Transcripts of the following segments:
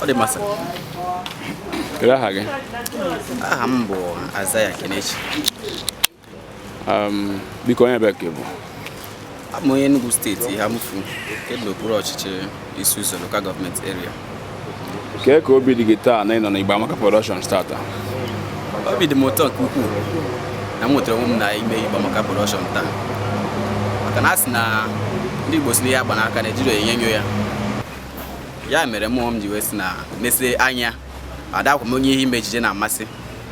ọ dị mma sa kedu aha gị aha m bụ Isaiah Kenechi um, biko onye ebee ka ị bụ abụ m onye Enugu steeti Eha-Amufu nke dị n'okpuru ọchịchị Isi-Uzo lokal gọọmenti eria kee ka obi dị gị taa na ị nọ na Igbo Amaka Productions tata obi dị m ụtọ nke ukwuu na m nwetara onwe m na ime Igbo Amaka Production taa maka na a sị na ndị Igbo sị na ihe a gba n'aka na ejighị enyo enyo ya ya mere m ji wee sị na mesie anya adakwa m onye ihe ime ejije na-amasị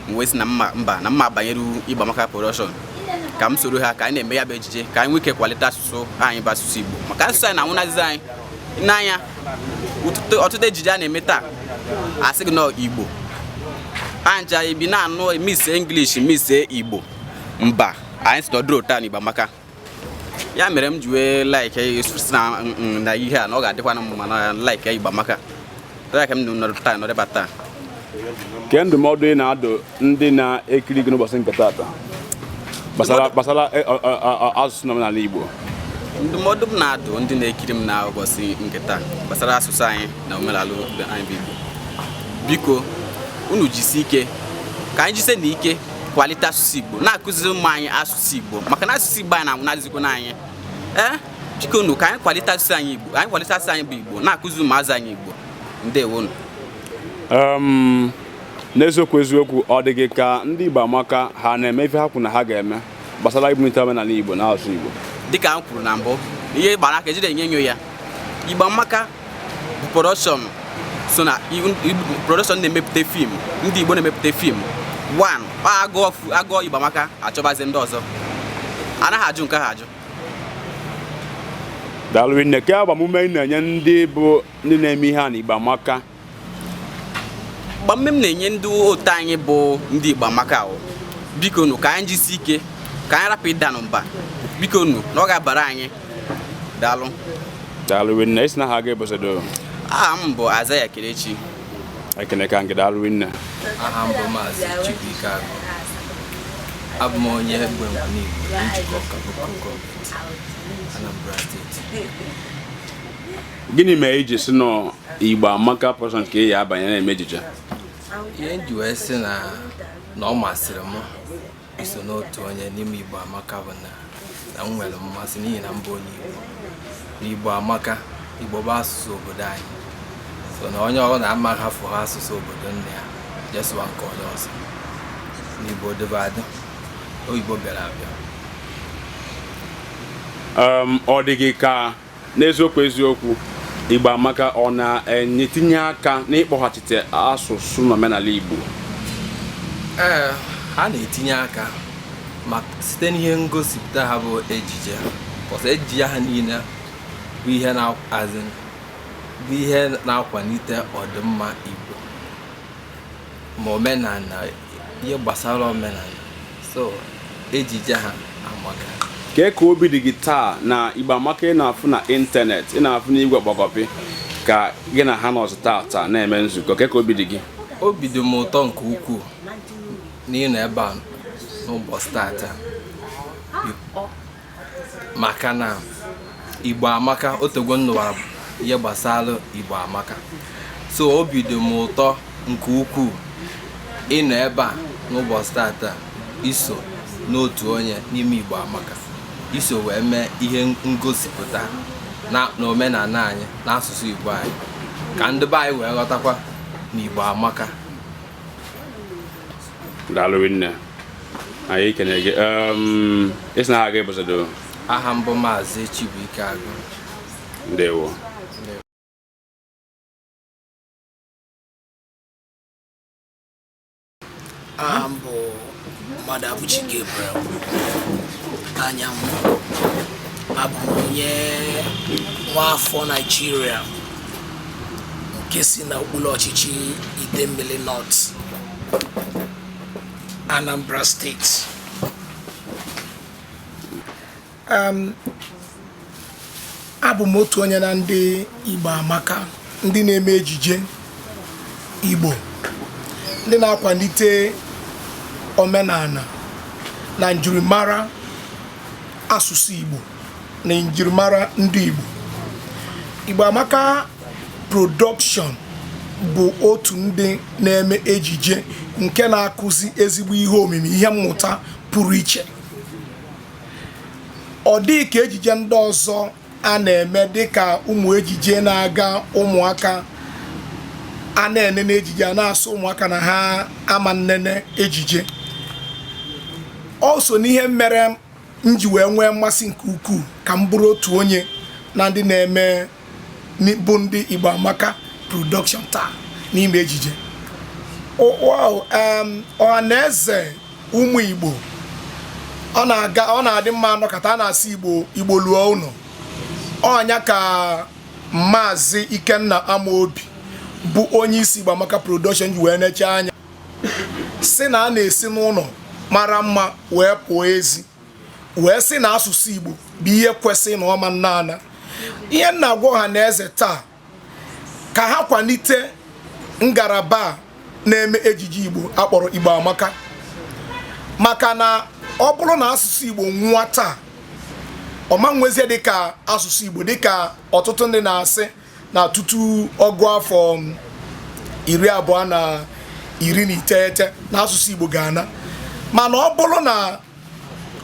m wee sị na mba na mma banyere Igbo Amaka production ka m soro ha ka anyị na-eme ya bụ ejije ka anyị nwee ike kwalite asụsụ anyị bụ asụsụ Igbo maka asụsụ anyị na-anwụnarịzi anyị n'anya ọtụtụ- ọtụtụ ejije a na-eme taa a sị gị na Igbo anja ibi na-anụ mix English mix Igbo mba anyị sị na ọ dịrọ otu a n'Igbo Amaka ya mere m ji wee like sị na mm, mm, na ihe a na ọ ga-adịkwana mma na like Igbo Amaka a ka m nọrọ taa nọrịba taa kee ndụmọdụ ị na-adụ ndị na-ekiri gị n'ụbọchị nke taata gbasara e, asụsụ na omenala Igbo ndụmọdụ m na-adụ ndị na-ekiri m na ụbọchị nke taa gbasara asụsụ anyị na omenala anyị bụ Igbo biko unu jisi ike ka anyị jisie nụ ike kwalite asụsụ Igbo na-akụziri ụmụ anyị asụsụ asụsụ Igbo maka na asụsụ Igbo anyị na-anwụnarịzikwa anyị ee eh? biko nụ ka anyị kwalite asụsụ anyị Igbo anyị kwalite asụsụ anyị bụ Igbo na-akụzi ụmụazụ anyị Igbo ndewonu um, n'eziokwu eziokwu ọ dị gị ka ndị Igbo Amaka ha na-eme ife ha kwuru na ha ga-eme gbasara ibunite omenala Igbo na asụsụ Igbo dịka m kwuru na mbụ ihe a gba n'aka ejighị enyo enyo ya Igbo Amaka production so na production na-emepụta fim ndị Igbo na-emepụta fim one agụọ a gụọ Igbo Amaka a chọbazie ndị ọzọ anaghị ajụ nke ha ajụ daalụ nne kee agbamume ị na-enye ndị bụ ndị na-eme ihe a na Igbo Amaka agbamume m na-enye ndị otu anyị bụ ndị Igbo Amaka a wụ biko nụ ka anyị jisi ike ka anyị rapụ ịda nụ mba biko nụ na ọ ga-abara anyị daalụ daalụ rinne ị sị na aha gị ebosodo aha m bụ Isaiah Kenechi ekene ka nke daalụ rinne aha m bụ maazị Chukwuike Agụ abụ m onye Abba Njikoka lokal gọọmenti Anambra steeti gịnị mere i ji sị na Igbo Amaka Production ka ị ya-abanye na-eme ejije ihe m ji wee sị na na ọ masịrị m iso n'otu onye n'ime Igbo Amaka bụ na na m nwere mmasị n'ihi na m bụ onye Igbo na Igbo amaka Igbo bụ asụsụ obodo anyị so na onye ọbụla ama hafụ ha asụsụ obodo nne ya je sụwa nke onye ọzọ na Igbo dịbu adị oyibo bịara abịa Um, ọ dị gị ka N'eziokwu eziokwu, Igbo amaka ọ na-etinye aka n'ịkpọghachite asụsụ na omenala Igbo? Ee, ha na-etinye aka ma site n'ihe ngosipụta ha bụ ejije so ejije ha niile bụ ihe na-akwalite ọdịmma Igbo ma omenala ihe gbasara omenala so ejije ha amaka kee ka obi dị gị taa na Igbo amaka ị na-afụ na ịntanetị ị na-afụ n'igwe kpọkọpị ka gị na ha nọzi tata na-eme nzukọ kee ka obi dị gị obi dị m ụtọ nke ukwuu n'ịnọ ebe a n'ụbọchị tata maka na igbo amaka otego m nụwara ihe gbasara igbo amaka so obi dị m ụtọ nke ukwuu ịnọ ebe a n'ụbọchị tata iso n'otu onye n'ime igbo amaka iso wee mee ihe ngosipụta na omenala anyị na asụsụ igbo anyị ka ndị be anyị wee ghọtakwa na igbo amaka daalụ nne anyị ekene gị esi na aga ịbụsado aha m bụ maazị Chibuike Agụ ndewo aha m bụ Mmadụabụchi Gabriel Anyanwụ abụ m onye nwa afọ Naijiria nke si na okpuru ọchịchị Idemmili North Anambra State. Um, abụ m otu onye na ndị Igbo amaka ndị na-eme ejije Igbo ndị na-akwalite omenala na njirimara asụsụ Igbo na njirimara ndị Igbo Igbo Amaka Production bụ otu ndị na-eme ejije nke na-akụzi ezigbo ihe omimi ihe mmụta pụrụ iche ọ dịghị ka ejije ndị ọzọ a na-eme dịka ụmụ ejije na-aga ụmụaka a na-enene ejije a na-asị ụmụaka na ha ama nnene ejije ọ so n'ihe mere m ji wee nwee mmasị nke ukwuu ka m bụrụ otu onye na ndị na-eme bụ ndị Igbo Amaka production taa n'ime ejije ọha na eze ụmụ Igbo ọ na-aga ọ na-adị mma anọkọta a na-asị Igbo Igbo luo ụlọ ọ nya ka Maazị Ikenna Amaobi bụ onye isi Igbo Amaka production ji wee neche anya sị na a na-esi n'ụlọ mara mma wee pụọ ezi wee sị na asụsụ Igbo bụ ihe kwesị na ọ ma na-ana ihe m na-agwa ọha na eze taa ka ha kwalite ngalaba na-eme ejije Igbo a kpọrọ Igbo Amaka maka na ọ bụrụ na asụsụ Igbo nwụọ taa ọ ma nwezie dịka asụsụ Igbo dịka ọtụtụ ndị na-asị na tutu ọgụ afọ iri abụọ na iri na iteghete na asụsụ Igbo ga-ana mana ọ bụrụ na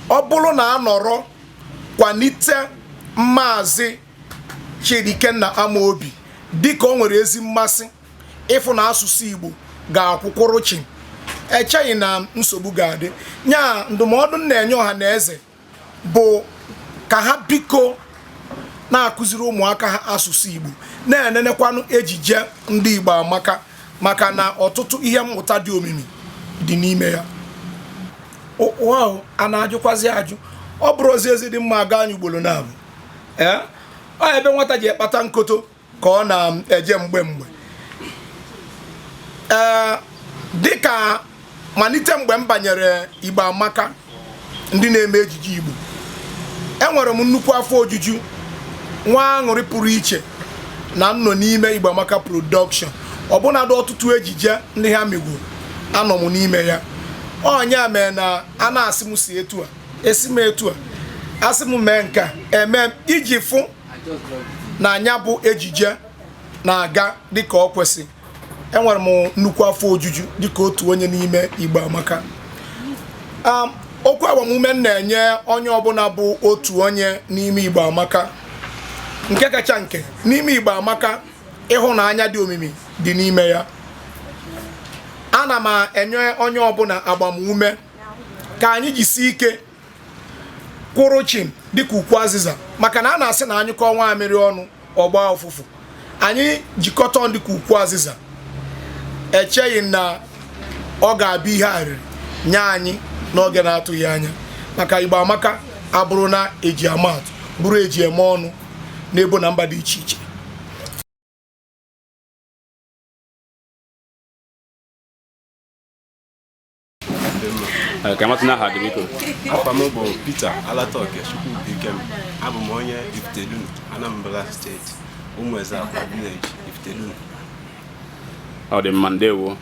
ọ bụrụ na a nọrọ kwalite maazị Chidi Ikenna Amobi dịka o nwere ezi mmasị ịfụ na asụsụ Igbo ga-akwụkwụrụ chim echeghị m na nsogbu ga-adị nya ndụmọdụ m na-enye ọha na eze bụ ka ha biko na-akụziri ụmụaka ha asụsụ Igbo na-enenekwanụ ejije ndị Igbo Amaka maka na ọtụtụ ihe mmụta dị omimi dị n'ime ya ụwa ahụ a na-ajụkwazi ajụ ọ bụrụ ozi ezi dị mma a gaa nya ugboro naabọ ee ọ ebe nwata ji ekpata nkoto ka ọ na-eje mgbe mgbe ee dịka malite mgbe m banyere Igbo Amaka ndị na-eme ejije Igbo enwere m nnukwu afọ ojuju nwee aṅụrị pụrụ iche na m nọ n'ime Igbo Amaka production ọbụnadụ ọtụtụ ejije ndị ha megoro anọ m n'ime ya ọ nya mee na a na-asị m si etu a esi m etu a a sị m mee nke a eme iji fụ na nya bụ ejije na-aga dịka ọ kwesị enwere m nnukwu afọ ojuju dịka otu onye n'ime Igbo Amaka um, okwu agbamume m na-enye onye ọbụla bụ otu onye n'ime Igbo Amaka nke kacha nke n'ime Igbo Amaka ịhụnanya dị omimi dị n'ime ya ana m enye onye ọbụla agbamume ka anyị jisi ike kwụrụ chim dịka ukwu azịza maka na a na-asị na a nyụkọọ nwamịrị ọnụ ọ gbaa ụfụfụ anyị jikọta ọnụ dịka ukwu azịza echeghị m na ọ ga-abụ ihe arịrị nye anyị n'oge na-atụghị anya maka Igbo Amaka abụrụ na e ji ama atụ bụrụ e ji eme ọnụ n'ebo na mba dị iche iche ka a matụ aha gị biko afa m bụ Peter Alatoke Chukwubuikem abụ m onye Ifitedunu Anambra steeti Ụmụeze Akwa village Ifitedunu ọ dị mma ndewo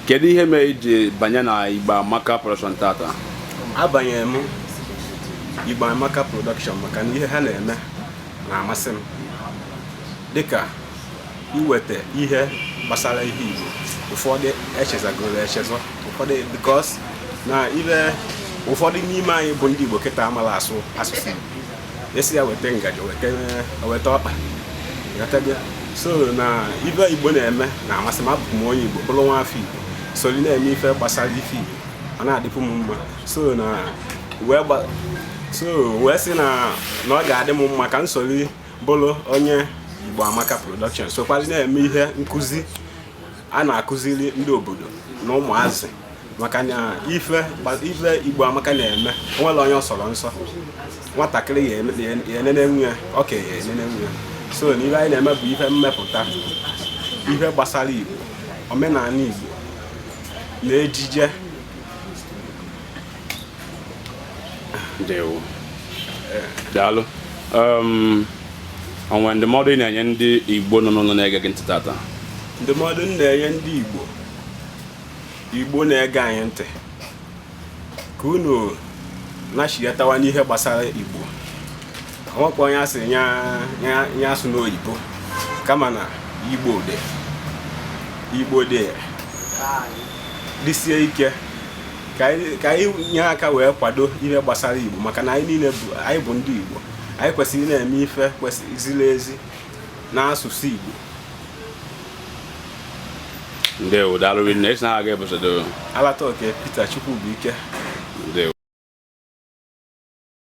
kedu ihe mere i ji banye na Igbo Amaka production tata abanyere m Igbo Amaka production maka na ihe ha na-eme na-amasị m dịka iweta ihe gbasara ihe Igbo ụfọdụ echezọgoro echezọ ụfọdụ because na ibe ụfọdụ n'ime anyị bụ ndị Igbo kịta amala asụ asụsụ Igbo a sị ya weta ngaji weta ọkpa so na ife Igbo na-eme na-amasị m abụ m onye Igbo bụrụ nwa afọ Igbo soli na-eme ife gbasara ife Igbo ọ na-adịpụ m mma so na wee so wee sị na na ọ ga-adị m mma ka m soli bụrụ onye Igbo Amaka Production sokwazị na-eme ihe nkụzi a na-akụziri ndị obodo na ụmụazị maka na ife Igbo Amaka na-eme o nwerọ onye ọ sọrọ nsọ nwatakịrị ya-enenenwu ya okenye ya-enenenwu ya so na ihe anyị na-eme bụ ihe mmepụta ihe gbasara Igbo omenala Igbo na ejije ndewo daalụ um, o nwee ndụmọdụ ị na-enye ndị igbo nọ n'ụlọ na-ege gị ntị tata ndụmọdụ m na-enye ndị igbo igbo na-ege anyị ntị ka unu nachighatawa n'ihe gbasara igbo nwekwa onye a sị ya asụna oyibo kama na igbo dị igbo dị dịsie ike ka anyị nye aka wee kwado ihe gbasara igbo maka na anyị niile bụ anyị bụ ndị igbo anyị kwesịrị ịna-eme ife kwesịrị ziri ezi n'asụsụ igbo ndewo daalụ rinne esi na aga ebusodo alata oke Peter Chukwubuike